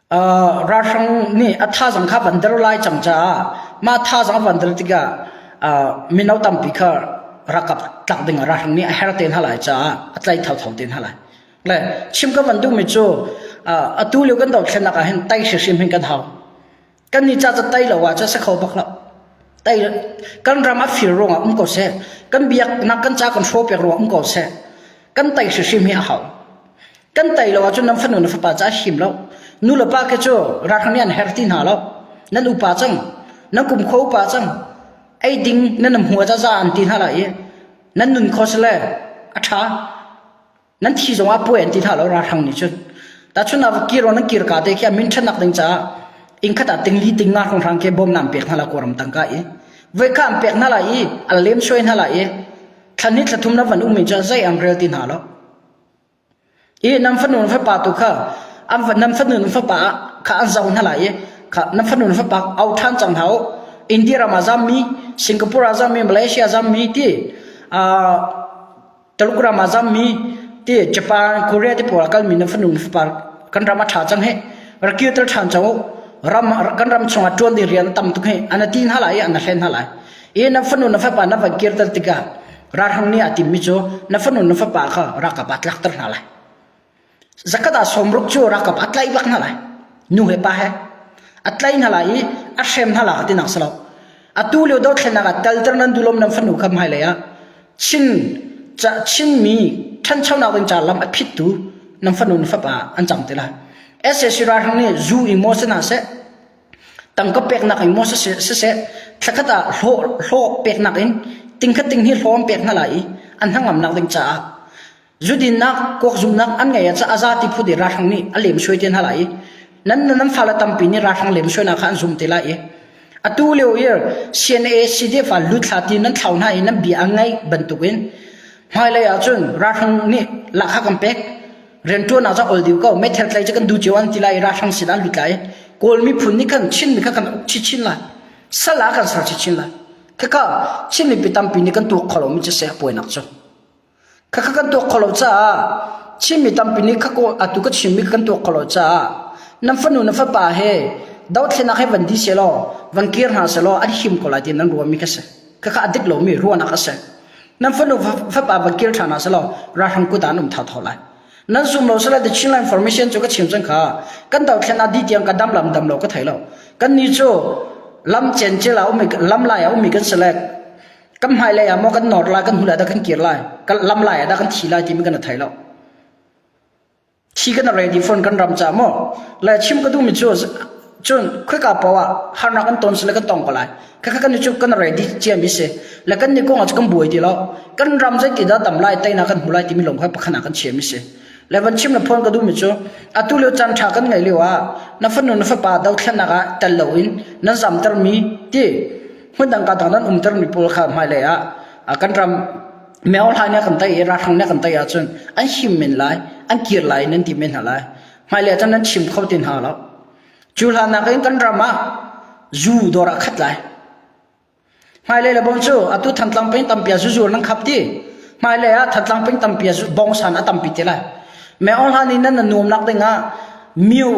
Ralhrang nih a thazaang kha van der lai cang caah mah thazaang a van der tikah mino tampi kha ralkap tlak ding ah ralhrang nih a her te hna lai caah a tlaih thotho te hna lai. Le chim kan van duhmi cu atu lio kan dohthlennak ah hin tei hrimhrim kan hau. kan ni cha tai lo ah cha se kho bak lo tai kan ram a fir ruang ah um ko se kan biak nak kan cha kan show pek ruang um ko se kan tai si hrim hi a hau kan tai lo ahcun nan fanu na fapa ca him lo nu le pa ke cu rakhani an her ti hna lo nan upa cang nan kum kho upa cang ei ding nan nam hua za za an ti hna la i nan nun khos le a tha nan thi zong ah puai an ti hlah lo ralhrang nih cun tahchun ah kir nan kir ka te khi a min ṭhanak ding caah ingkhat ah ting li ting na hranghrang ke bawmna an pek hna la kawram tangka i voikha an pek hna la i a lem soi hna la i thlan ni thlathum na van um in cun zei ang rel ti hna lo i nam fanu fa pa tu kha an nam fanu fa pa kha an zau hna la i kha nam fanu fa pa au than chang hau india ram azam mi singapore azam mi malaysia azam mi ti a Taluk ram ah zammi te Japan, Korea te pawl ah kalmi nan fanu na fapa kan ram a ṭha cang hih. Rak kir ter ṭhan co u. Ram kan ram chungah ṭuan ding rian tam tuk hih. An ti hna lai i an hlen hna lai. I nan fanu na fapa nan van kir ter tikah ralhrang nih a timmi cu na fanu na fapa kha ralkap ah tlak ter hna lai. Zakhat ah sawmruk cu ralkap a tlaih bak hna lai. Nu he pa he. A tlaih hna lai i a hrem hna lai tinak si lo. Atu lio dothlennak ah talter nan dulom nan fanu kha hmailei ah Chin, Chinmi ṭhanchonak ding caah lam a phittu nan fanu na fapa an cang ti lai. SAC ralhrang nih zu i maw si hna seh, tangka peknak i maw siseh, thlakhat ah hlawh peknak in tingkhat ting hi hlawm pek hna lai i an hnangamnak ding caah Zudinnak kuakzumnak an ngeih ah cun a za ti phut i ralhrang nih a lemsuai te hna lai i nan nun an fale tampi nih ralhrang lemsuainak kha an zum te lai i atu lio i CNA CDF ah lut hlat i nan thlau hna i nan bia a ngaih bantukin hmailei ah cun ralhrang nih lahka kan pek rianṭuannak cu a ol dih ko meithal tlai cu kan du cio an ti lai i ralhrang sin ah an lut lai i Kawl miphun nih khan Chinmi kha kan uk chinchin lai sal ah kan ser chinchin lai khika Chinmi pi tampi nih kan tuak kho lomi cu saya puainak cu Khakha kan tuak kho lo caah Chinmi tampi nih atu ka chimmi kan tuak kho lo caah nan fanu nan fapa he dothlenak he van di sehlaw van kir hna sehlaw an him ko lai ti nan ruahmi kha si. Khakha a dik lomi ruahnak a si. Nan fanu fapa van kir ṭhan hna sehlaw ralhrang kut ah an um tha tho lai. nan zum lo sala the Chinland formation chu ka chim san kha kan dau thlen adi tiang ka dam lam dam lo ka thei lo kan ni chu lam chen chela umi lam lai umi kan select kan hmailei ah maw kan nor lai kan hnu lai dah kan kir lai kan lam lai ah dah kan thi lai timi kan thei lo thi kan ready phone kan ram ca maw le chim ka duhmi cu cun khoika paoh ah harnak kan ton sile kan tong ko lai kaka kan cu kan ready ciami se le kan ni kong ah kan buai ti lo kan ram zeiti dah tam lai tei na kan hmu lai timi lawng kha pakhana kan chiami se le van chim na phone ka duhmi cu atu leo chan tha kan ngai leo ah na fanu na fapa dothlannak ah tel lo in na zamter mi ti hmun dangka tang nan umter mi pawl kha hmailei ah kan ram meohlai ne kan tei i rahrang ne kan tei ahcun an him men lai an kir lai nan ti men hna lai hmailei ah nan chim kho tin hna lo cu hlan nak in kan ram ah zu dor ah khat lai hmailei le bom cu atu thantlang pin tampia zuzur nan khap ti hmailei ah thantlang pin tampia bongsan a tampi ti lai Meohlan in nan na nuamnak dingah miu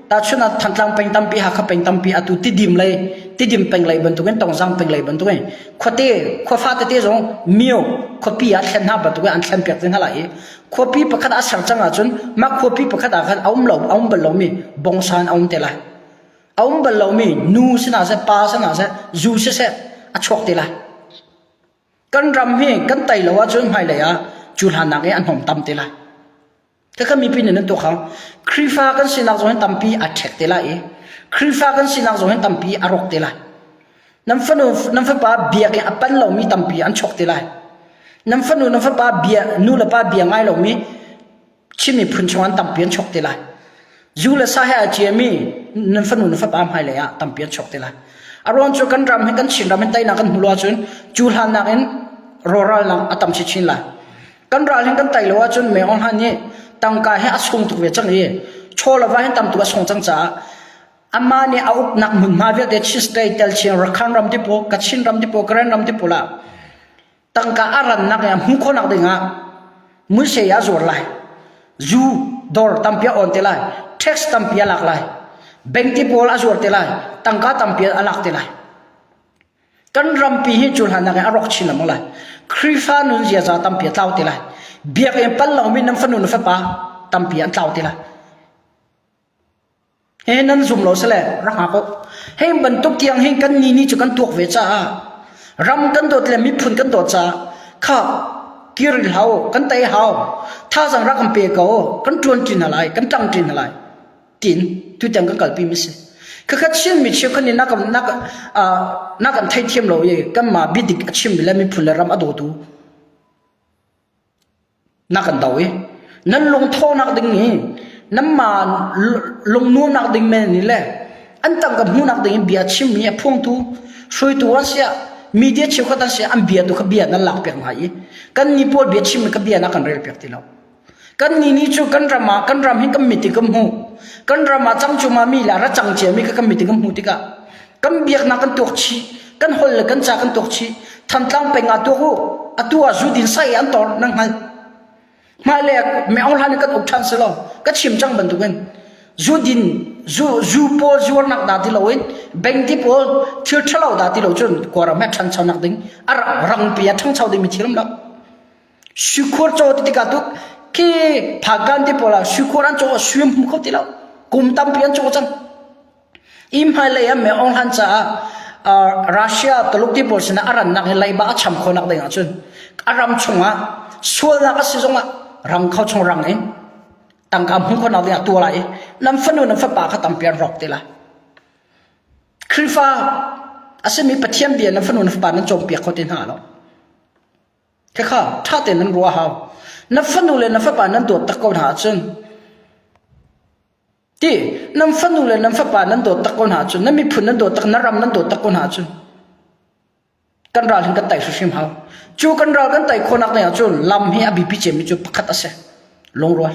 tahchun ah thantlang peng tampi Hakha peng tampi atu tidim lei tidim peng lei bantukin tongzang peng lei bantukin khuate khuafa tete zong miu khuapi ah thlen hna bantukin an thlen piak te hna lai i khuapi pakhat a ser cang ahcun mah khuapi pakhat ah khan a um lo a um bal lomi bongsan a um te lai a um bal lomi nu sinah seh pa sinah seh zu seh seh a chuak te lai Kan ram hi kan tei lo ahcun hmailei ah cu hlannak i an hong tam te lai. Khakha mipi nih nan tuah kha Khrihfa kan sinak zong hin tampi a ṭhek te lai i Khrihfa kan sinak zong hin tampi a rawk te lai. Nan fanu nan fapa biak i a pan lomi tampi an chawk te lai. Nan fanu nan fapa bia nu le pa bia ngai lomi Chin miphun chung an tampi an chok te lai. Zu le sa he a ciami nan fanu na fapa hmai lei ah tampi an chok te lai. A ruang cu kan ram hi kan Chin ram hin teinak an hmu lo ahcun cu hlannak in rawralnak a tam chinchin lai. Kan ral hin kan tei lo ahcun me ohlan nih tangka hi a sung tuk ve cang i chawlava hin tamtuk a sung cang caah amma nih a uknak hmunhma vialte Chin state tel Chin Rakhan ram tipaw Kachin ram tipaw Karen ram tipaw lah tangka a rannak i a hmu khawhnak dingah muisei a zuar lai zu dor tampia on te lai tax tampia lak lai banki pawl a zuar te lai tangka tampia a lak te lai kan rampi hi cu hlannak in a rawk chin lamang lai khrifa nun ziaza tampia tlau te lai biakinn pal lo min nan fanu nu fapa tampia an tlau te lai he nan zum lo sele rak ha ko hei bantuk tiang hin kan ni ni cu kan tuak ve caah ram kan dawt le miphun kan dawt caah kha kir hau kan tai hau thazang rak kan pe ko kan tuan ṭin hna lai kan ṭang ṭin hna lai tin tu tiang kan kalpi mi si khakha chin mi chiu khani nakam nak nakan thei thiam lo ye kan ma bidik a chim mi le miphun le ram a dotu Na kan do i nan lungthawhnak ding i nanmah lungnuamnak ding men in le an tangka hmuhnak ding in bia chimmi a phungtu hruaitu an si ah media cheukhat an si ah an bia tu kha bia nan lak piak hna i kannih pawl bia chim in ka bia na kan rel piak ti lo kannih ni cu kan ram ah kan ram hi kan mit i kan hmuh kan ram ah cangcung ah mi le ra cang ciami kha kan mit i kan hmuh tikah kan biaknak kan tuak chih kan hol le kan ca kan tuak chih thantlang peng ah tuak u atu ah zu din sai an tor nan hngal mah le me ong hlan kan uk than selo ka chim chang bantuk in zu din zu zu pawl zuar nak da ti lo in bank ti pawl thil thalo da ti lo chun kwara ma thang chau nak ding ara rang pe thang chau ding mi thiram lo shukur cho ti ka tuk ki phakan ti pola shukur an cho suim hu kho ti lo kum tam pi an cho chan Inn hmailei an meh ohlan caah Russia Tulukti pawl sinah a rannak hi leiba a cham khawhnak ding ahcun a ram chungah sualnak a si zongah rang kho chung rang in tangka hmuh khawhnak ding ah tuah lai i nan fanu nan fapa kha tampi an rawk ti la. Khrihfa a simi Pathian bia nan fanu nan fapa nan cawmpiak kho ti hna lo. Khekha ṭha tein nan ruah hau. Na fanu le na fapa nan dawt tak ko hna ahcun Ti nan fanu le nan fapa nan dawttak ko hna cun, nan miphun nan dawttak, nan ram nan dawttak ko hna cun, kan ral hin kan tei hrimhrim hau. Cu kan ral kan tei khawhnak ding ahcun lam hi a biapi cemmi cu pakhat a si. Lungrual.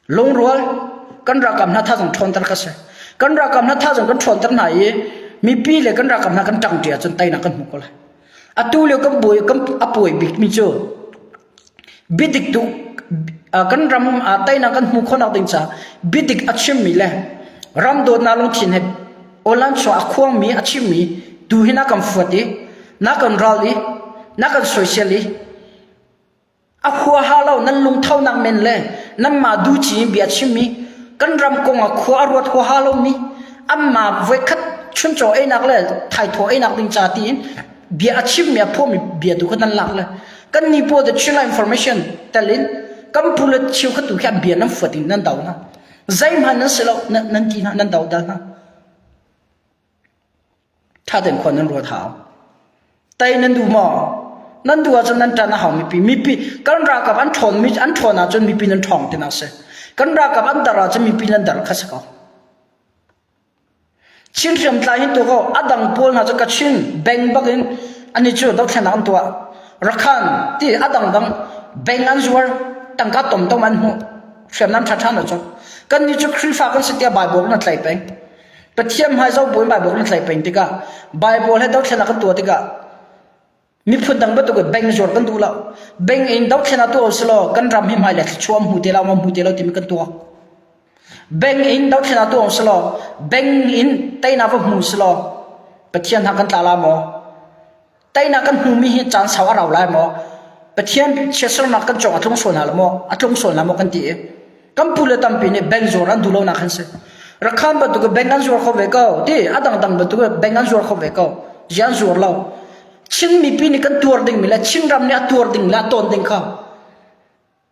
Lungrual. Kan ralkap hna thazang ṭhawnter ka si. Kan ralkap hna thazang kan ṭhawnter hna i, mipi le kan ralkap hna kan ṭangṭi ahcun teinak kan hmu ko lai. Atu lio kan buai, kan a puai bikmi cu Biadik tuk kan ram ah teinak kan hmuh khawhnak ding caah biadik a chimmi le ram dawtnak lungthin he Awnlan chuah a khuangmi a chimmi tu hi na kan fuat i na kan ral i na kan soisel i a huaha lo nan lungthonak men le nanmah duci in bia chimmi kan ram kong ah khua a ruat huaha lomi anmah voikhat chuncaw einak le thaithawh einak ding ca tiin bia a chimmi a phawmi bia tu kha nan lak le kan ni po de thil information talin kan pule chiu kha tu hian bian nan fuat in nan dau na zai man nan selo nan ki na nan dau da na tha den khon nan ro tha tai nan du mo nan du chun nan tan hau mi pi mi pi kan ra ka an thon mi an thona chun mi pi nan thong te na se kan ra ka an dara chun mi pi nan dar kha sa ko Chin hriamtlai nih tuah kaw a dang pawl hna cu Kachin bank bak in an i cu dothlennak an tuah. Rakhan ti a dangdang bank an zuar tangka tomtom an hmuh hriamnam ṭhaṭha an lo cawk. Kannih cu Khrihfa kan si tiah Baibal kan tlaih peng. Pathian hmai zoh buin Baibal kan tlaih peng tikah Baibal he dothlennak kan tuah tikah Miphun dang bantuk in bank zuar kan duh lo. Bank in dohthlen a tuah usilaw kan ram hi hmai le thluachuah hmu te lo, ma hmu te lo timi kan tuah. Bank in dohthlen a tuah usilaw bank in teinak va hmu usilaw Pathian ha kan tla la maw? Teinak kan hmumi hi caan sau a rau lai maw? Pathian chiatsernak kan cong a tlung sual hna lo maw? A tlung sual hna maw kan ti i kan pu le tampi nih bank zuar an duh lonak an si rakham bantuk in bank an zuar kho ve ko ti a dangdang bantuk in bank an zuar kho ve ko ji an zuar lo chin mipi nih kan tuar ding mi le chin ram nih a tuar ding le a tawn ding kha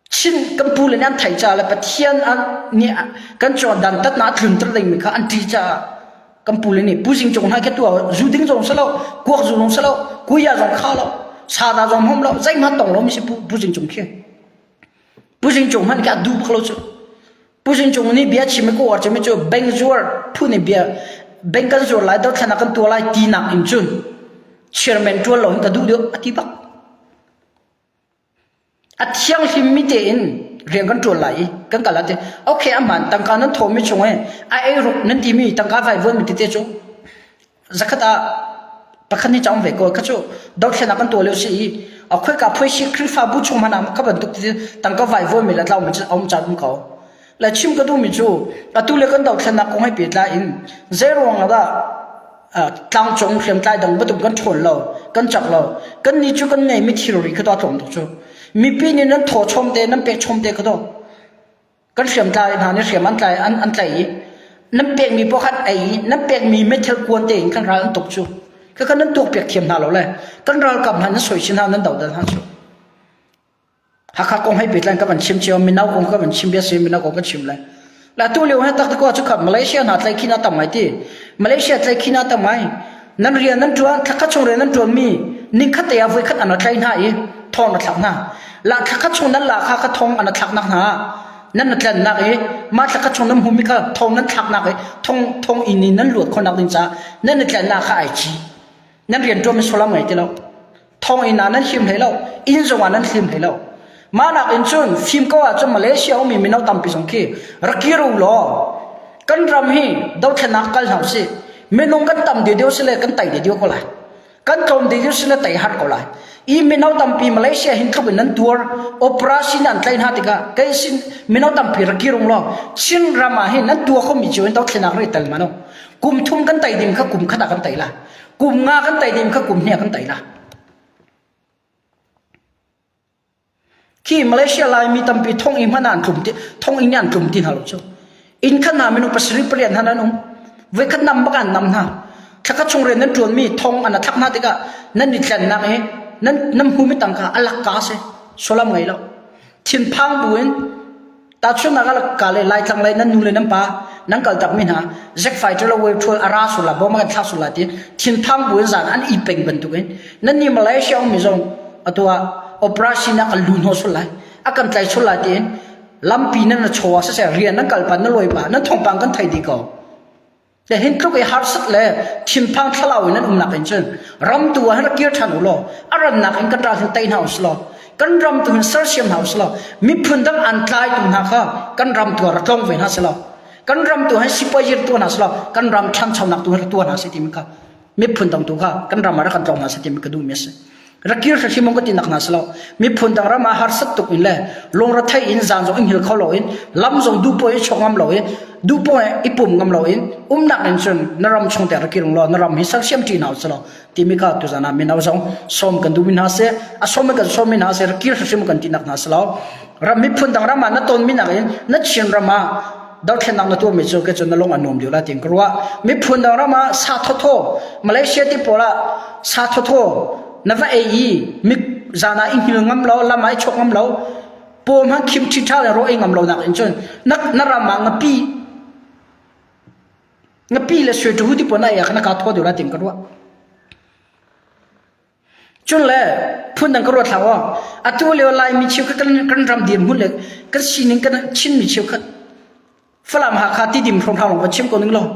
chin kan pu le nih an thai ca le pathian an nih kan cho dan tat na thlum ter ding mi kha an ti ca kan pu le nih pu jing chong hai ke tu zu ding zong selo kuak zu zong selo kuya zong kha lo sa da zong hom lo zai man tong lo mi si pu pu jing chong khi Puzing cung man ka du bak lo chu. Puzing cung ni bia chim ko ar chemi chu bank zuar phu ni bia bank kan zuar lai do thlana kan tua lai ti nak in chu chairman tuan lo in ta du dio ati bak. A thiang hlim mi te in riang kan tuan lai i kan kala te okay aman tangka nan thomi chung e a ei ruk nan ti mi tangka vai vuan mi te te chu zakhat ah pakhat nih cawng ve ko kha cu dothlenak kan tuah lio si i akhoi ka phoi si khrihfabu chung hmanh am kha bantuk tangka vai voi mila tlau mi aum cha dum ko la chim ka du mi chu atu le kan dothlenak kong hai pe tla in zai ruang la tlang cung hriam tlai dang batum kan ṭhawn lo kan chak lo kan ni chu kan nei mi thilri kha to thawm tu chu mipi nih nan thaw chom te nan pek chom te kha to kan hriamtlai hna nih hriam an tlai an, an tlaih i nan pekmi poh khan ei i nan pekmi meithal kuan tein kan ral an tuk cu kha nan tuak piak thiam hna lo le kan ralkap hna nan soi chin hna nan dohdal hna cu Hakha kong hei petlan ka van chim cio mino kong ka van chim bia si mino kong ka chim le la tu leo he tak ko chu khap Malaysia na tlai khina tam ngai ti Malaysia tlai khina tam ngai Nan rian nan ṭuan, thla khat chung rian nan ṭuanmi ningkhat te ah voikhat an ra tlaih hna i thawng na thlak hna. La thla khat chung nan la kha ka thawng an thlaknak hna nan na tlannak i mah thla khat chung nan hmumi kha thawng nan thlaknak i thawng thawng in in nan luat khawhnak ding caah nan i tlannak kha ai ci. Nan rian ṭuan mi sulam ngai ti lo. thonginn ah nan him hlei lo inn zong ah nan hlim hlei lo mah nakin cun fim ko ahcun Malaysia ummi mino tampi zong khi ra kir u law kan ram hi dothlenak kal hna usih minung kan tam deuh deuh si le kan tai deuh deuh ko lai kan tlawm deuh deuh si le tai hat ko lai i mino tampi Malaysia hin tluk in nan tuar operation an tlai hna tikah kei sin mino tampi ra kir ung law Chin ram ah hin nan tua khomi cu in dothlenak rei tel mano kum thum kan tai ding kha kum khat ah kan tai la Kum nga kan tei dim kha kum hnih kan tei la. Khi Malaysia Laimi tampi thong i hman an tlum ti thong in an tlum ti hna lo cu. In khan hna minu pasarih pariat hna nan um. Voi khat nam bak an nam hna. Thlaka chung rian nan tuan mi thong an athak hna tikah nan ni tlannak i nan nam humi tangka alak ka se. Solam ngai lo. Thin phang bu in Tahchunhnak ah ka le Laitlang lei nan nu le nan pa nan kaltakmi hna zekfai ṭilo wei ṭhual a ra sul la boma kan thlak sul la tiin thinphang buin zan an i peng bantukin nan nih Malaysia ummi zong atu ah operation ah kan lu hnawh sul lai a kan tlai sul la tiin lampi nan na chaw ah siseh rian nan kal pan na lawi pa nan thawngpang kan thei dih ko. Hihin tluk i harsat le thinphang thlalau in an umnak in cun ram tu ah hin ra kir ṭhan u law a rannak in kan ral hin tei hna u sih law kan ram tu hin sersiam hna u sih law miphun dang an tlai tu hna kha kan ram tu ah ra tlong ve hna sih law kan ram tu hin sipuai zir tuah hna sih law kan ram ṭhangchonak tu hin ra tuah hna sih timin kha miphun dang tu kha kan ram ah rak kan tlawng hna sa ti ka duhmi a si rak kir hri mong ka ti nak hna salo miphun dang ram ah har sat tuk in le longra thai in zan zong in hil kho lo in lam zong du po i chok ngam lo in du po i pum ngam lo in um nak in chun na ram chung te rak kirung lo na ram hi sak siam chi na salo ti mi ka tu zana min aw zong som kan du min ha se a som kan som min ha se rak kir hri mong kan ti nak hna salo ram miphun dang ram ah na ton min in na chin ram ah dothlennak na tuahmi cu ke cu na lung a nuam lio la tiin ka ruah miphun dang ram ah sa thotho malaysia ti pawl ah sa thotho na va ei i mi zan ah i hngil ngam lo lam ai chok ngam lo po mang khim chi tha le ro ei ngam lo nak in chun na na ram ma ngapi ngapi le sui tu ti pona ya na ka tho de la ting ka ruah Cunle phundang ka ruat hlah aw. Atu lio Laimi cheukhat kan ram dirhmun le kan sining kan Chinmi cheukhat Falam Hakha tidim hrom hram va chim ko ning law.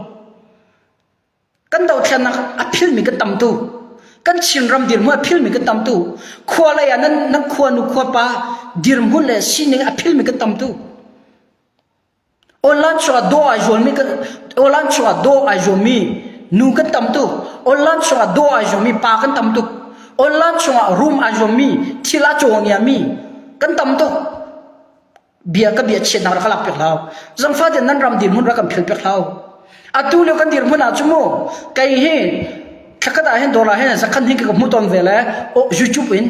Kan dothlennak a philmi kan tamtu. Kan Chin ram dirhmun a philmi kan tamtu. Khua lei ah nan, nan khua nu khua pa dirhmun le sining a philmi kan tamtu. Awlan chungah dawh ai zuammi kan awlan chungah dawh ai zuammi nu kan tam tuk. Awlan chungah dawh ai zuammi pa kan tam tuk. Awlan chungah rum ai zuammi thil a caw ngiami kan tam tuk. Bia ka bia chiatnak rak ka lak piak hau. Zangfate nan ram dirhmun rak kan philh piak hau. atu leo kan dirhmun ah cu mu kei hi thlakhat ah hin dollar hin zakhan hin ka hmu ton ve le o youtube in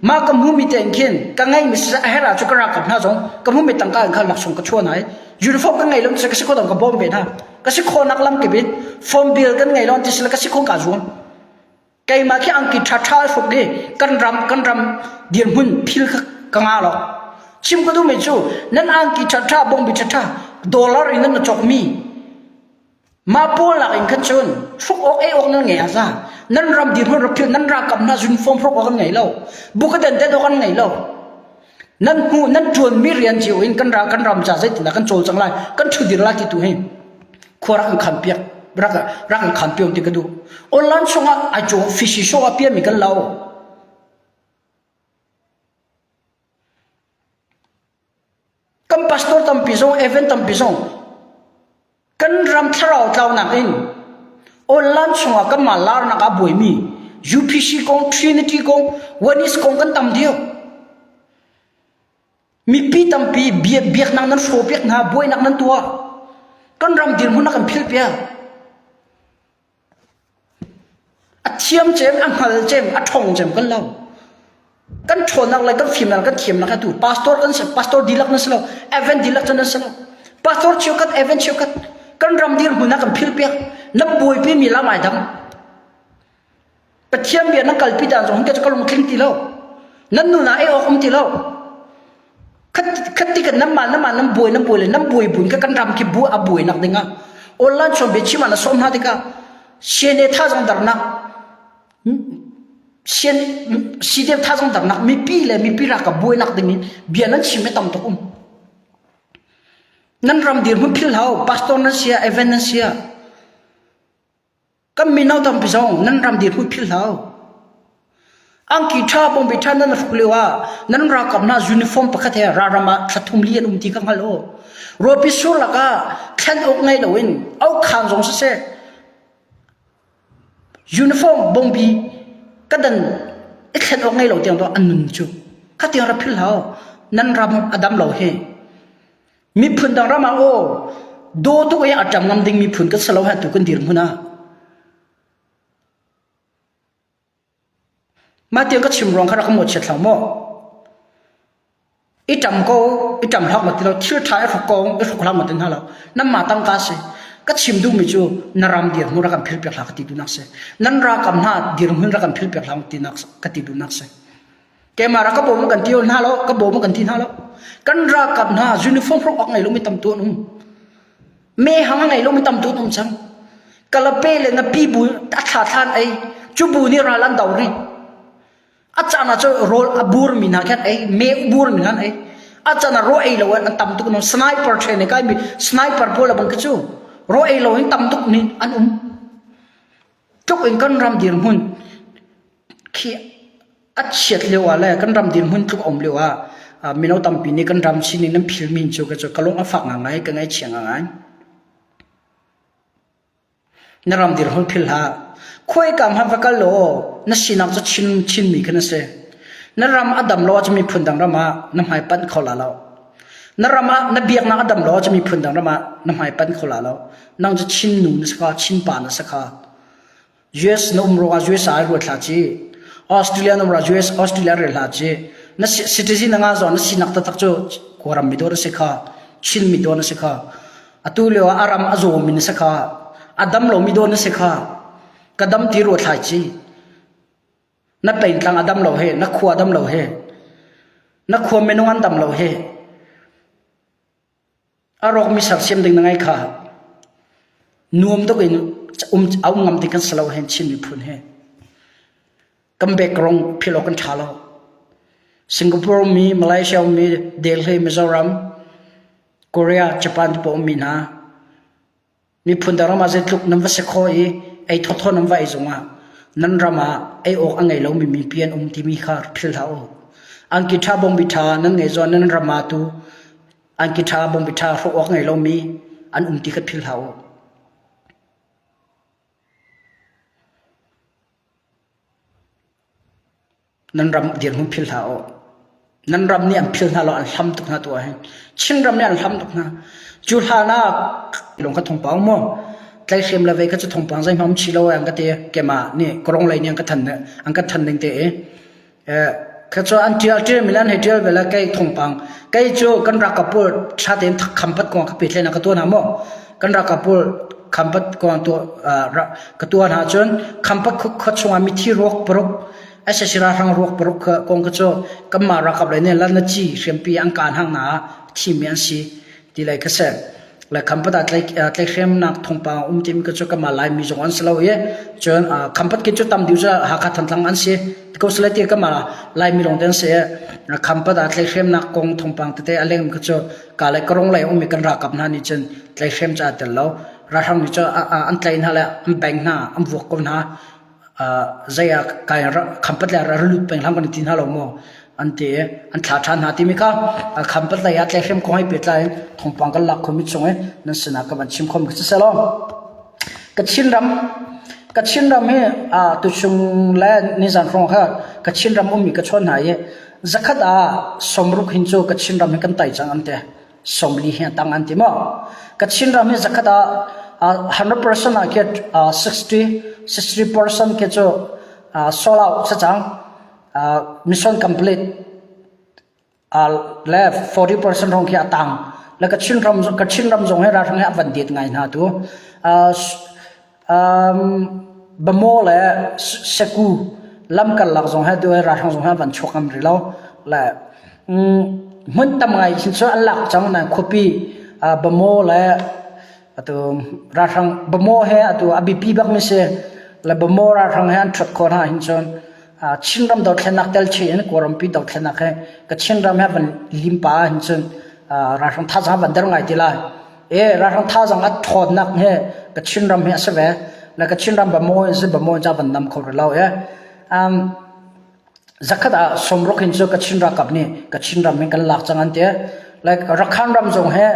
ma ka mu mi ten khin ka ngai mi sa hera chu ka ra kap na zong ka mu mi tangka in khan laksong ka chuan ai uniform ka ngai lom se ka si kodom ka bom ve na ka si khonak lam ke bit form bill kan ngai lon ti sila ka si khong ka zuam Keimah khi angki ṭhaṭha hruk i kan ram kan ram dirhmun thil kha ka nga lo. Chim ka duhmi cu nan angki ṭhaṭha bongbi ṭhaṭha dollar in nan na cawkmi mah pawl lak in khan cun hruk awk ei awk nan ngei a za. Nan ram dirhmun rak philh nan ralkap hna uniform hruk awk an ngei lo. Buka dandat awk an ngei lo. Nan hmuh nan ṭuanmi rian cio in kan ral kan ram ca zeitindah kan cawl cang lai kan ṭhudir lai ti tu hi khuarak in khan piak rak rak in khan piang ti ka duh online sungah ai cu fishi show a piami kan lo kan pastor tampi zong event tampi zong Kan ram thlarau tlaunak in online chungah kanmah laarnak a buaimi UPC kong, Trinity kong, Oneness kong kan tam deuh. Mipi tampi biaknak nan hrawpiak hna, buainak nan tuah. Kan ram dirhmun a kan philh piak. A thiam cem, a hngal cem, a ṭhawng cem kan lo. Kan ṭhawnnak le kan fimnak kan thiamnak atu pastor kan si, pastor dihlak nan si lo, event dihlak can nan si lo. Pastor cheukhat, event cheukhat kan ram dirhmun ah kan philpiak. Lam buaipi mi lam ai dam. Pathian bia nan kalpi ta zong hinke ka lung tling ti lo. Nan nuna ei awk um ti lo. Khatti kan nan man nan man nan buai nan buai le nan buai buin ka kan ram ki bu a buai nak ding ah online chon be chima na som na dika sene tha zong darnak sien sidem tha zong darnak mipi le mipi ra ka buai nak ding in bia nan chim me tam tok um nan ram dir mun phil hau pastor nan sia even nan sia kan mino tampi zong nan ram dir hui phil hau angki tha bombi tha nan hruk leo ah nan rakam na uniform pakhat he raram ah thlathum li an um ti ka ngal o ropi sur laka thlen ok ngai lo in au khan zong se se uniform bombi kadan i thlen ok ngai lo tiang to an nun chu khatiang ra phil hau nan ram adam lo he Miphun dang ram ah aw daw tuk i a ṭam ngam ding miphun kan si lo heh tu kan dir hmun ah. Mah tiang ka chim ruang kha rak ka mawchiat hlau maw. I ṭam ko, i ṭam hlak ma ti lo, thil ṭha i hruk kong, i hruk hlak ma ti hna lo. Nan ma tang ka si. Ka chim duh mi cu nan ram dir hmun rak kan philpiak hla ka ti tu nak si. Nan ra kam hna dir hmun rak kan philpiak hla ka ti nak ka ti tu nak si. Keimah rak ka bawm kan tio hna lo, ka bawm kan ti hna lo. Kan rakap hna uniform rok ak ngai lomi tam tu an um. Me hang ngai lomi tam tu an um cang. Kalape le na pi bu a thla thlan ai. Cu bu ni ralan dau ri. Acana cu rol a bur mi na khan ai, me bur mi ngan ai. Acana ro ai lo an tam tuk no sniper train ai kai mi sniper pola bang ke cu ro ai lo in tam tuk ni an um. Tluk in kan ram dirhmun khi a chiat lio ah le kan ram dirhmun tluk a um lio ah mino tampi nih kan ram sin in an philmi cu ka lung a fak ngaingai ka ngaihchia ngaingai. Na ram dirhmun philh hlah. Khuaika hmanh va kal law na sinak cu Chin Chinmi kha na si. Na ram a dam lo ahcun miphun dang ram ah na hmai panh kho la lo. Na ram ah na biaknak a dam lo ahcun miphun dang ram ah na hmai panh kho la lo. Nang cu Chinnu na si kha, Chinpa na si kha. US na um ruangah US ah ai ruat hlah ci. Australia na um ruangah US Australia rel hlah ci. Na si, citizen na ngah zawn na sinak taktak cu Kawlram mi dawr na si kha, Chin mi dawr na si kha. Atu leo ah aram a zawm mi na si kha, a dam lo mi dawr na si kha. Ka dam ti ruat hlah ci. Na pein tlang a dam lo he, na khua dam lo he. Na khua menung an dam lo he. A rawkmi sersiam ding na ngai kha nuam tuk in um a um ngam ding kan si lo hen Chin miphun he kan background phil awk kan tha lo Singapore mi Malaysia mi Delhi Mizoram Korea Japan te pawh ummi hna Miphun dang ram ah zeitluk nan va si khawh i ei thawthaw nan va ei zongah nan ram ah ei awk a ngei lomi mipi an um timi kha philh hlah u. Angki ṭha bawmbi ṭha nan ngeih zawn nan ram ah tu angki ṭha bawmbi ṭha hrawh awk a ngei lomi an um ti kha philh hlah u. nan ram dirhmun philh hlah u. Nan ram nih an philh hna law an hlam tuk hna tuah hin. Chinram nih an hlam tuk hna. Cu hlanah lung ka thongpang mu. Tlai hrim le vei ka cu thongpang zei hmam chi lo an ka te kema ni korong lei ni an ka than an ka than ning te e. Ka cho an tial tial milan he tial vela kai thongpang kai cu kan rak kapul thaten kham pat ko ka pe tlen ka to na mo. Kan rak ka pulh. Khampat kuang ka tuah hna cun Khampat khua chungah mithi ruak paruk, asasira hrang ruak paruk kuang kha cu kanmah ralkap lei nih lannaci hriampi an kaan hang hna ah thimi an si ti lei kha si. Le Khampat ah tlaihhremnak thawngpang a um timi kha cu kanmah Laimi zong an si lo i cun Khampat khi cu tam deuh cu Hakha Thantlang an si. Ti ko selain ti kanmah Laimi lawng te an si i Khampat ah tlaihhremnak kong thawngpang tete a leng kha cu kaa le ka rung lei a ummi kan ralkap hna nih cun tlaihhrem cu aa tel lo. Ralhrang nih cun an tlaih hna le an beng hna, an vuak ko hna. zei ah kai khampat le ra lut peng hlam kan i ti hna lo maw? an ti i an thlah ṭhan hna timi kha khampat lei ah tlaihhrem kong he pehtlai in thawngpang kan lak khomi chung i nan sinah ka van chim khomi siselaw Kachinram hi tuchung le nizan hrawng kha Kachinram ummi ka chawn hna i zakhat ah sawmruk hin cu Kachinram hi kan tai cang an ti. Sawmli hi a tang an ti maw? Kachinram hi zakhat ah 100% ah ke 60 person ke cu sold out cacang. Mission complete. le forty percent hrawng khi a tang. Le ka Chinram ka Chinram zong hi ralhrang he a van det ngai hna tu. Uh, um, Bamo le Seku lamkal lak zong he duai ralhrang zong he van chuak ngam ri lo. Le um, hmun tam ngai hin cu an lak cang na khuapi uh, Bamo le atu ralhrang Bamo he atu a bipi bak mi si le Bamo ralhrang he an thut ko hna hin cun Chinram dothlennak telche in Kawlrampi dothlennak hi ka Chinram he van limpa in cun ralhrang thazang van der ngai ti lai. E ralhrang thazang a ṭhawnnak hi ka Chinram hi a si ve. Le ka Chinram Bamaw in si Bamaw in ca van nam kho ri lo e. Um, zakhat ah somruk in cu ka Chin ralkap nih ka Chinram in kan lak cang an ti. Like Rakhan ram zong he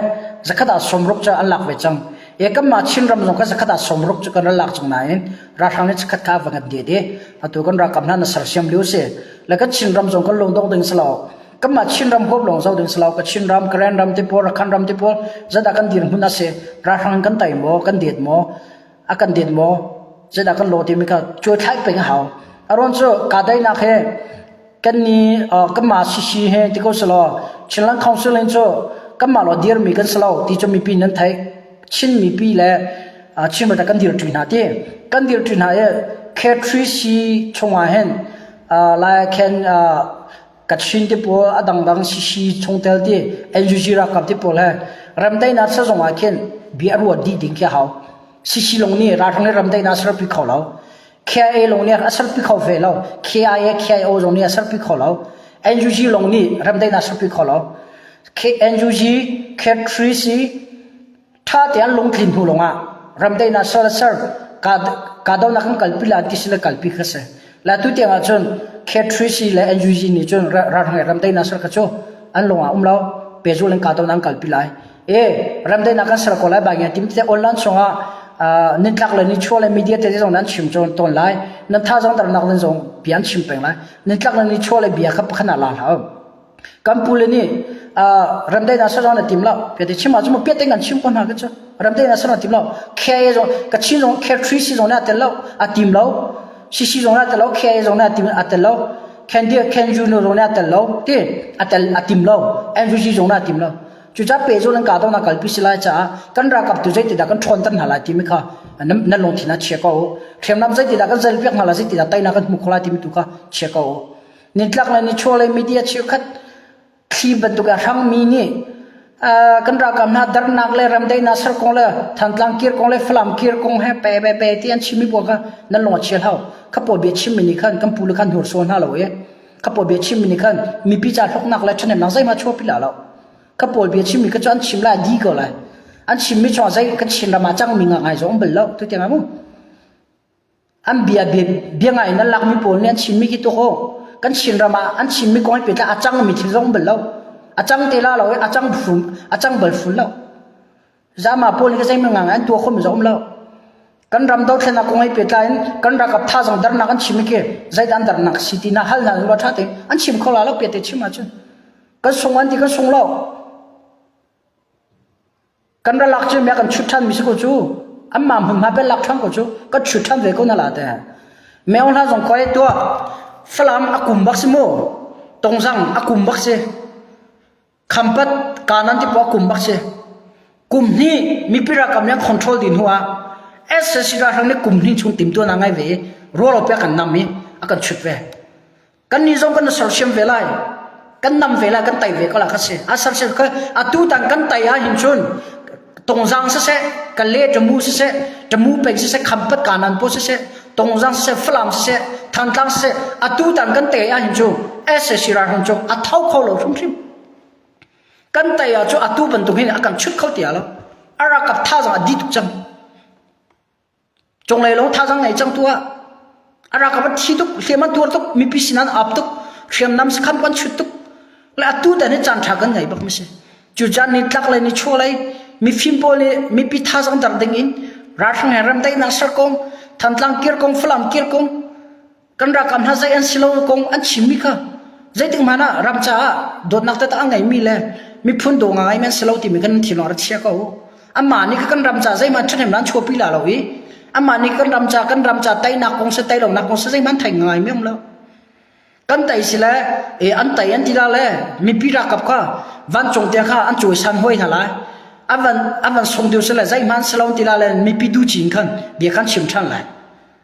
zakhat ah somruk cu an lak ve cang. E kanmah Chin ram zong kha zakhat ah somruk cu kan ral lak cang nain Ralhrang nih chikkhat tha va ngat ded i atu kan ralkap hna na sersiam lio si. La ka Chinram zong kan lung dong ding si lo. Kanmah Chinram huap lawng zau ding si lo. Ka Chinram, Karen ram te pawl, Rakhine ram te pawl zada kan dir hmun ase. Ralhrang in kan tai maw, kan det maw, a kan det maw, zada kan lo ti mi ka chui thlai peng a hau. Aron cu kadainak he kanmah sisi he ti ko selaw Chinland Council hin cu kanmah lo dirmi kan si lo ti cu mipi nan theih Chin mipi le Chin ralkap kan dir ṭi hna ti kan dir ṭi hna i K3C chungah hin lai khen Kachin ti pawl a dangdang sisi chungtel ti NUG ralkap ti pawl he ramdaihnak sa zongah khin bia a ruat dih ding khi a hau sisi long nih ralhrang le ramdaihnak serpi kho lo KIA lawng nih a serpi kho ve lo. KIA, KIO lawng nih a serpi kho lo. NUG lawng nih remdaih in a serpi kho lo. NUG, K3C tha tein lungtlin hnu lawng ah remdaih in a ser ser kahdohnak kan kalpi la an ti si le kalpi kha si. La tu tiang ah cun K3C le NUG nih cun ralhrang remdaih in a ser kha cu an lawng ah um lo. Pezul in kahdohnak an kalpi lai. e ramdei nak kan ser ko lai bang ya tim te online chungah nin tlak le ni chuo le media te zong nan chim chon ton lai nan tha zong tar nak den zong pian chim peng lai nin tlak le ni chuo le bia khap khana la la kan pule ni ramdei na sa zong na tim la pe te chim ma juma pe te kan chim ko na ka cha ramdei na sa na tim la khe zong ka chin zong khe three si zong na tel lo a tim lo sisi zong na tel lo khe zong na tim a tel lo can dia can you no zong na tel lo ti a tel a tim lo refugee zong na tim lo Cucaah pehzul an kah tawn ah kalpi si lai caah kan ralkap tu zeitindah kan ṭhawnter hna lai timi kha nan, nan lungthin ah chia ko u. Hriamnam zeitindah kan zelpiak hna lai zeitindah teinak kan hmuh kho lai timi tu kha chia ko u. Nintlak le nichuah le media cheukhat thli bantuk ah hrangmi nih uh, kan ralkap hna darnak le ramdaihnak ser kong le thantlang kir kong le falam kir kong he pe pe pe ti an chimmi bua kha nan lung a chia hlau khapo bia chimmi nih khan kan pu le khan hursual hna lo i ka pawl bia chim mi khan mipi ca hloknak le ṭhahnemnak zeihmah chuahpi la lo ka pawl bia chim mi kha cu an chim lai di ko lai an chim mi chong zei kan chin ram ah cang mi nga ngai zong bel lo tu tiang mu an bia bia bia ngai na lak mi pawl nih an chim mi ki tu ho kan chin ram ah an chim mi kong pe tla a cang mi thil zong bel lo a cang te la lo a cang fum a cang bal fun lo Zama pawl hi zeimang ngang an tua khom zom lo. Kan ram dothlenak kong ai petlai in kan rakap tha zong darnak an chim ke zait an darnak si tina hal na lo tha te an chim kho la lo pe te chim ma chun kan sung an ti kan sung lo kan ra lak chu me kan chut than mi su ko chu an ma mun ma pe lak thang ko chu ka chut than ve ko na la te me on la zong koi tua falam akum bak si mo tongzang akum bak si Khampat kanan ti puak kum bak si. Kum hnih mipira kam yang control din hu ah SSC ralhrang nih kum hnih chung tim tuan a ngai ve i rawl o piak kan nam i a kan chut ve. Kan ni zong kan sersiam ve lai. Kan nam ve lai kan tai ve ko la ka si. A sersiam ka atu tang kan tai a hin chun tongzang siseh kale ṭamu siseh ṭamu peng siseh khampat kanan paw siseh tongzang siseh falam siseh thantlang siseh atu tan kan te ah hin cu ese sira hon cu a thau kho lo hrim hrim kan te ah cu atu bantuk hin a kan chut kho tia lo arakap tha zong a dit cang Conglei long thazang nei cang tua. Ara ka thi tuk, hliam a tuar tuk, mipi sinan ap tuk, hriamnam sakhan kwan chut tuk. Le atu tan hi chan tha kan ngai bak masi. Cu jan ni tlak le ni chua lai, mi fim pawl ni, mipi thazang dar ding in, rarthang hen ram tai na sar kong, thantlang kir kong, falam kir kong, kan ralkap hna zei an si lo kong an chimmi kha zeitik hmanh ah ram caah dawtnak te a ngeimi le miphun do nga ngai men si lo timi kan thin lawng ra chia ko amma nih kan ram ca zeihman ṭhahnem nan chuapi la lo i amma nih kan ram ca kan ram ca teinak kong se teilonak kong se zeihman thei ngai mi um lo kan tei si le e an tei an ti la le mipi rakap kha vancung tia kha an cui san hoi hna lai avan avan sung diu se le zeihman se lo ti la le mipi du cin khan bia khan chim ṭhan lai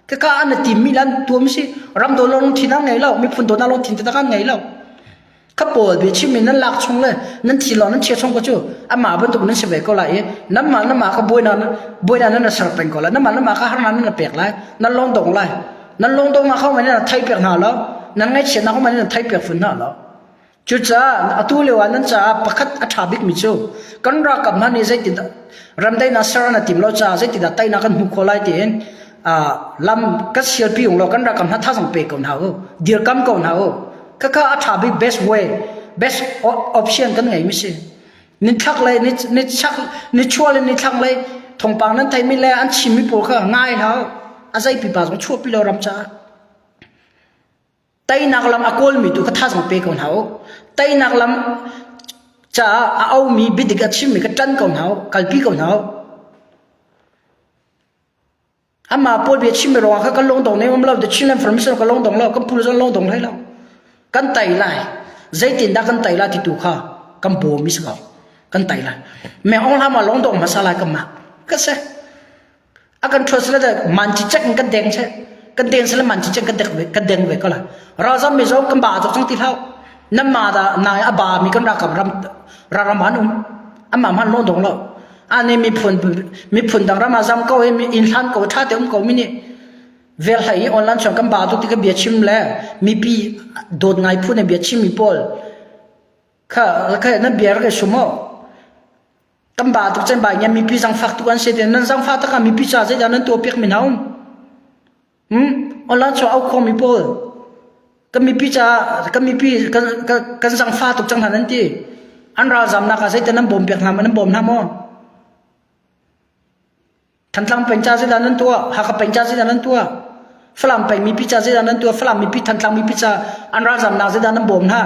Kaka an tim mi lan tuam si ram do long thin an ngei lo miphun do na long thin ta kan ngei lo ka pawl be chim min nan lak chung le nan thi lo nan chia chung ko chu ama ban tuk nan se ve ko lai e nam ma nam ma ka boi na boi na nan ser pen ko la nam ma nam ma ka har na nan pek lai nan long dong lai nan long dong ma khau mai na thai pek na lo nan ngai chia na khau mai na thai pek fun na lo Cucaah atu lio ah nan caah pakhat a ṭha bikmi cu kan ralkap hna nih zeitindah ramdainak ser an tim lo caah zeitindah teinak kan hmuh khawh lai tiin lam kan sialpi ung law kan ralkap hna thazang pe ko hna u dirkam ko hna u khakha a ṭha bik best way best option kan ngeimi si ni thak le ni chak ni chuah le ni thlang le thongpang nan theimi le an chimmi pawl kha ngai hna u a zei pipa zong chuahpi lo ram caah Teinak lam a kawlmi tu kha thazang pe ko hna u. Teinak lam caah a aumi biadik a chimmi kha ṭan ko hna u. Kalpi ko hna u. Amah Paul bia chimmi ruangah kha kan lungdong nem lo, the children from Israel kan lungdong lo, kan phu zong lungdong hlei lo. Kan tai lai. Zeitindah kan tai lai ti tu kha kan bawm is ko. Kan tai lai. Mẹ ong hlama lungdong hmasa lai kan mah. Ka se. a kan thua sila man cicek in kan deng seh kan deng sila man cicek kan dek kan deng ve ko la razam mi zong kan ba zok chang ti hlau nam ma da na a ba mi kan ra kam ram ram han um amma man lo dong lo ane mi phun mi phun dang rama zam ko e mi in hlan ko tha te um ko mi ni vel hai online chong kan ba dok ti ka bia chim le mi pi dot ngai phu ne bia chim mi pol kha kha na bia ra ke sumo Kan ba tuk cun ba ngiam mipi zangfak tu an si tiah nan zangfak tak ah mipi ca zeidah nan tuah piak min hau? Hmm? Ola cho au khawmi pawl kan mipi ca kan mipi kan kan, kan zangfa tuk cang hna nan ti. An ralzam nak ah zeitan nan bawm piak hna maw nan bawm hna maw? Thantlang peng ca zedah nan tuah? Hakha peng ca zedah nan tuah? Falam peng mipi ca zedah nan tuah? Falam mipi, Thantlang mipi ca an ralzam nak zedah nan bawm hna?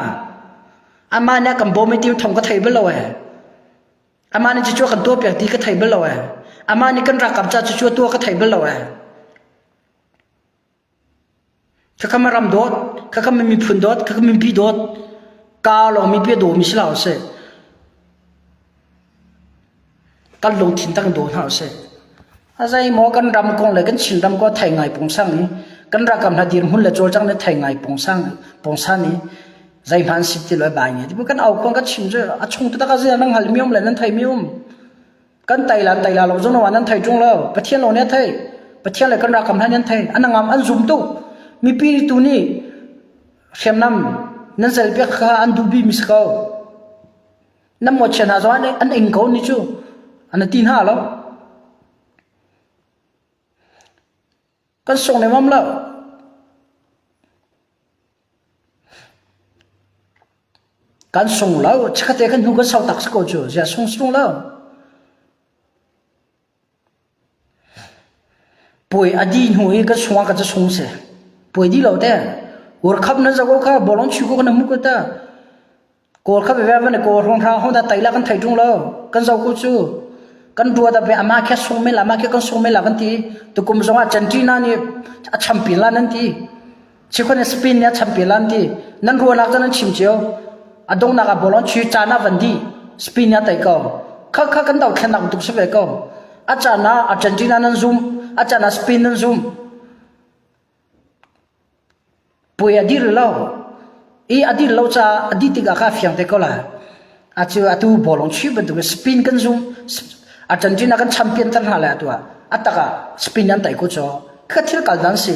Amma nih kan bawm i ti thong ka thei bal lo ee. Amma nih cucu kan tuah piak ti ka thei bal lo ee. Amma nih kan rakap ca cucu tuah ka thei bal lo ee. Khakam a ram dawt, khakam a miphun dawt, khakam a mipi dawt, kaa lawngmi pi a dawmi si hlah usih, kan lungthin tak in daw hna usih. A zeimaw kan ram kong le kan Chinram kong a thei ngai pung sang i, kan ralkap hna dirhmun le cawlcang le thei ngai pung sang, pung san i, zeihmanh an si ti lo i bai nge. Tibawi kan au kuang kan chim cu, a chung tu tak a zia nan hngalhmi um le nan theimi um. kan taila taila lo zong wan an thai chung lo pathian lo ne thai pathian le kan ra kham han an thai an ngam an zum tu mipi tu ni hriamnam nan sel pek kha an du bi misako nam mo chen ha zon an ing ko ni chu an tin ha lo Kan sung lengmang lo. Kan sung lo. Chikkhat te kan hnu kan sau tak si ko cu. Ziah sung sung lo. Puai a di hnu i kan sung ah kan ca sung si. Puai di lo te. Ur khap nan zako kha bolong chu ko kan hmu ko ta. Kawl kha veve van i kawl hrunghraang hun dah taila kan thei ṭung lo. Kan zo ku cu kan ruat ah amah khi a sung men la, amah khi kan sung men la kan ti. Tukum zongah Centina nih a champin lan an ti. Chikhon in Spain nih a champin lan ti. Nan ruahnak cu nan chim cio. A dongnak ah bolon chui caan ah van dih. Spain nih a tei ko. Kha kha kan dothlennak tuk si ve ko. A caan ah a Centina nan zumh, a caan ah Spain nan zumh. Puai a dir lo. I a dir lo caah a dih tikah kaa fiang te ko lai. Acu atu bawlung chuih bantuk in spin kan zumh. A ṭan ṭin ah kan champion-ter hna lai atu ah. A tak ah spin an tei ku caw. Khi ka thil kal dan a si.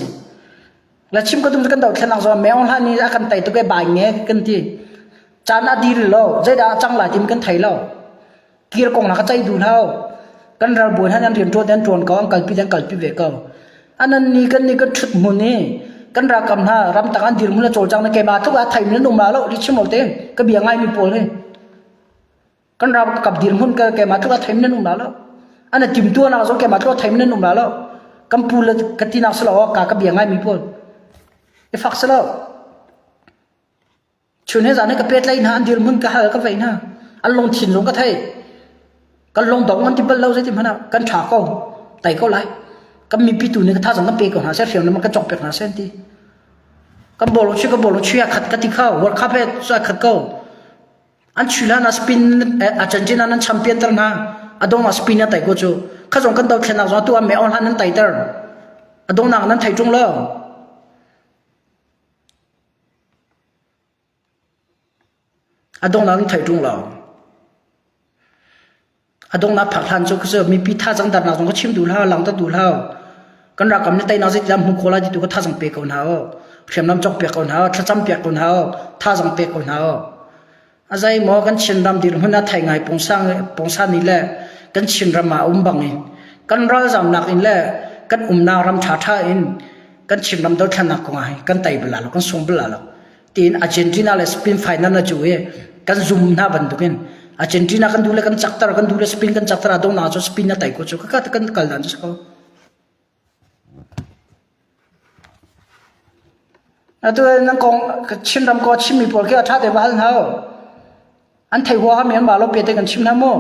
Le chim ka tum cu kan dohthlennak zong ah meo hlan i a kan tei tuk i bai nge kan ti. Caan a dir lo. Zeidah a cang lai timi kan thei lo. kir kong na ka ceih du lo kan ral buan han an rian ṭuan an ṭuan ko an kalpi an kalpi ve ko anan nih kan nih kan ṭhut hmun i kan rakam hna ramtak an dirhmun a cawlcang na keimah tluk ah theih nan um la lo ri chim lo te ka bia ngai mi pawl hi kan rakap dirhmun ka keimah tluk ah theih nan um la lo ana timtu anak zo keimah tluk ah theih nan um la lo kan pu le ka tinak selo ka ka bia ngai mi pawl i fak selo Chun he zan he ka petlai hna an dirmun ka hal ka vei hna an lung thinlung ka thei kan lung dong an ti bal lo zeiti hmanh ah kan tha ko tai ko lai kan mipi tu nih ka thazang kan pe ko hna se hriam le kan cong pek hna se ti kan bolo chi ka bolo chi a khat ka ti kha world cup he su a khat ko an chi lan a spin argentina nan champion tar na adong a spin a tai ko chu kha zong kan do thlen nak zong tu am me on han nan tai tar adong nak nan thai chung lo A donghnak na theih ṭung lo. A donghnak phak hlan cu khuacu mipi thazang darnak zong kha chim duh hlah, langter duh hlah. Kan rakam na teinak zeitindah hmuh khawh lai ti tu kha thazang pe ko hna u. Hriamnam cawk piak ko hna u, thlacam piak ko hna u, thazang pek ko hna u. A zei maw kan Chinram dirhmun a thei ngai pungsang pungsani le kan Chinram ah a um bang in kan ralzamnak in le kan umnak ram ṭha ṭha in kan Chinram dothlannak kong ah kan tei bal lo kan sung bal lo tiin Argentina le Spain final a cu i kan zum hna bantuk in Argentina kan duh le kan caktar kan duh le Spain kan caktar a dongnak cu Spain a tei ko cu ka kan kal dan cu ko. Chinram kong a chimmi pawl khi a ṭha tein va hal hna u. An thei huaham i an vaa lo pia tein kan chim hna mu.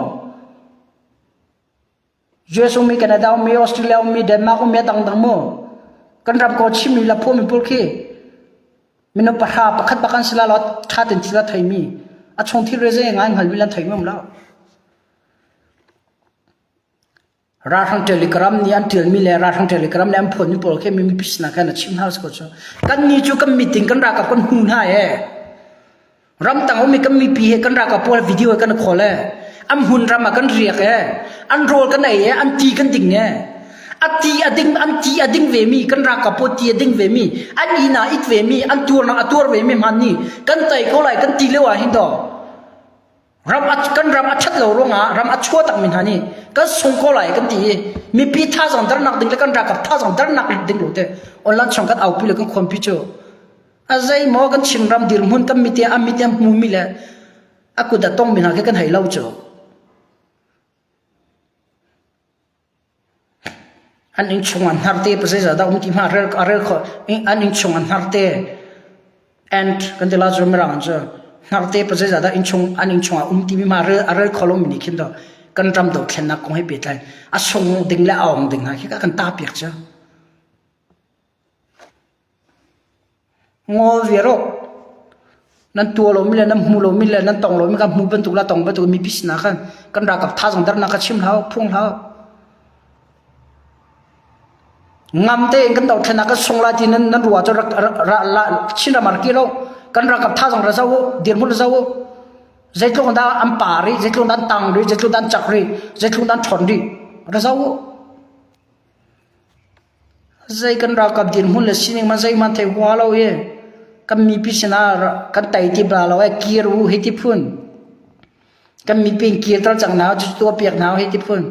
US ummi, Canada ummi, Australia ummi, Denmark ummi a dangdang mu. Kan ram kong a chimmi laphuami pawl khi mino pahra pakhat bak an si la lo ṭha tein thil a theimi. A chung thilre zei ngai hngal vil an thei ngam lo. Ralhrang Telegram nih an ṭialmi le ralhrang Telegram nih an phuanmi pawl khi mipi sinah khan a chim hna usih kaw cu kannih cu kan meeting kan rak ah kan hmu hna ee. Ramdang ummi kan mipi he kan rak ah pual video he kan i khawl ee. An hmun ram ah kan riak ee. An rawl kan ei ee, an ti kan ding ee. A ti a ding an ti a ding vemi kan rak ah puat ti a ding vemi an ina it vemi an tuar a tuar vemi hman ni kan tai ko lai kan ti leo ah hin to ram kan ram a ṭhat lo ruangah ram a chua takmi hna nih kan sung ko lai kan ti i mipi thazang darnak ding le kan ralkap thazang darnak ding lo te online chong kan aupi le kan khonpi cu a zei maw kan chin ram dirhmun kan mite a mite hmu mi le a kut a tong mi hna khi kan hei lo cu An innchung an hnar te zeizah dah um ti hmah a rel khawh. An innchung an hnar te and kan ti lai cu Mirang an cu. Hnar te pa zeizah dah an innchung ah um ti mi hmah a rel kho lomi nih khin to kan ram dohthlennak kong he pehtlai in a sung ding le a awng ding hna khi kan tah piak cia. Ngawlrial rawh! Nan tuah lomi le nan hmu lomi le nan tong lomi kan hmu bantuk le tong bantuk mipi sinah khan kan ralkap thazaangdarnak kha chim hlah u, phung hlah u. Ngam tein kan dohthlennak kan sung lai ti nan, nan ruah cu rak, rak, ra, la, chin ramar kir u. Kan ralkap thazaang ra zau u, dirhmun ra zau u. Zeitluk dah an pa rih, zeitluk dah an tang rih, zeitluk dah an chak rih, zeitluk dah an ṭhawn rih, ra zau u. Zei kan ralkap dirhmun le sining hmanh zeihmanh thei hua lo i kan mipi sinah kan tei ti bla lo ee. Kir u hei ti phun. Kan mipi in kirter cang hna, cucu tuahpiak hna u hei ti phun.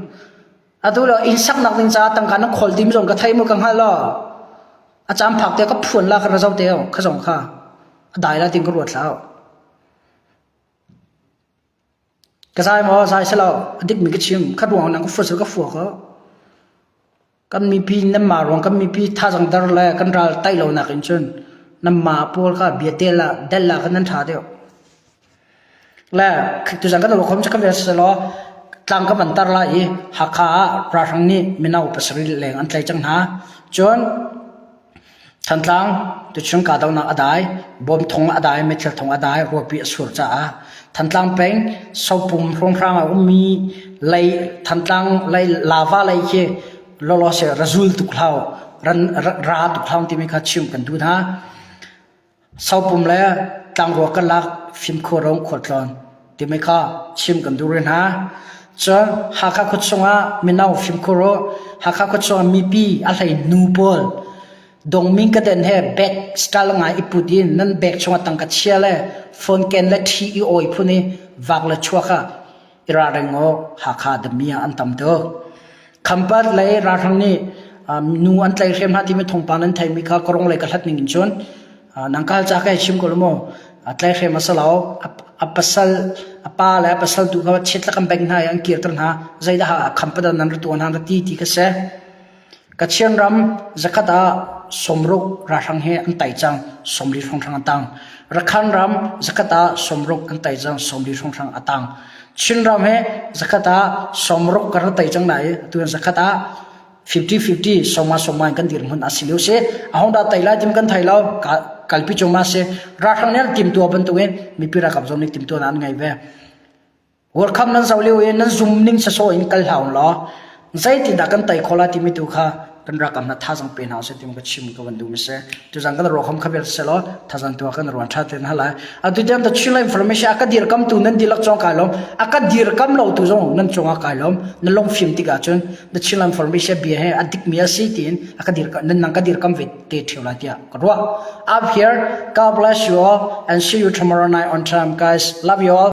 Atu le inn saknak ding caah tangka na khawl timi zong ka thei mu ka hngalh lo. A caan phak te ka phuan la ka ra zo te o, ka zong kha. A dai la tin ka ruat hlah u. Ka zai maw zai si lo a dikmi ka chim khat ruang nan ka fur ka fua ko kan mipi nan ma ruang kan mipi thazang dar le kan ral taih lo nak in cun nan ma pawl kha bia te la del la kan nan tha deuh le tu zang kan lo khom cha kan vel se law tlang ka ban tar la i Hakha ah ralhrang nih mino pasarih leng an tlai cang hna cun Thantlang tuchung kahdohnak a dai, bom thong a dai, meithal thong a dai, ruahpi a sur caah Thantlang peng sopum hrawnghrang a ummi Thantlang lava lei khi lawlaw seh ra zul tuk hlah u, ra tuk hlah u timi kha chimh kan duh hna. Sopum le tlangrua karlak fimkhurung khualtlawn timi kha chim kan duh rih hna. Cun Hakha khuachung ah mino fimkhur u. Hakha khuachung ah mipi a hlei nu pawl dongming ka den he bag style ngai i put in nan bag chungah tangka chia le phone ken le ṭhi i awi phun i vak le chuak ah ira reng u Hakha dami ah an tam tuk. Khampat lei ralhrang nih nu an tlaih hrim hna timi thawngpang nan theimi kha ka ronglei ka hlat ning in cun nangkal ca ka chim ko lu mu tlai hrim a si lo a pasal a pa le a pasal tu kha chiat lakam bank hna i an kirter hna zeidah khampat nan ra tuan hna ra ti ti ka si Kachin ram zakhat ah sawmruk ralhrang he an tei cang sawmli hrawnghrang a tang. Rakhan ram zakhat ah sawmruk an tei cang sawmli hrawnghrang a tang. Chinram he zakhat ah sawmruk kan rak tei cang na i atu hin zakhat ah 50-50 sawma sawma in kan dir hmun a si lio si a hong dah tei lai tim kan thei lo kalpi chuma si ralhrang nih an timtua bantuk in mipi ralkap zong nih timtua na an ngei ve Workam nan zo lio i nan zum ning sasawh in kal hlah law zeitindah kan tei khawh la timi tu kha kan rakam na thazang pe hna usih timi ka chim ka van duhmi si tuzang kan ruakam kha bel selo thazang tua kan ruan tha ten hala atu tem ta chun la information aka dir kam tu nan dilak chong kai lom aka dir kam lo tu zong nan chonga kai lom na long phim tika chun na chun la information bia he adik mi asi tin aka dir nan nang ka dir kam ve te theu la tia ka ruwa up here god bless you all and see you tomorrow night on time guys love you all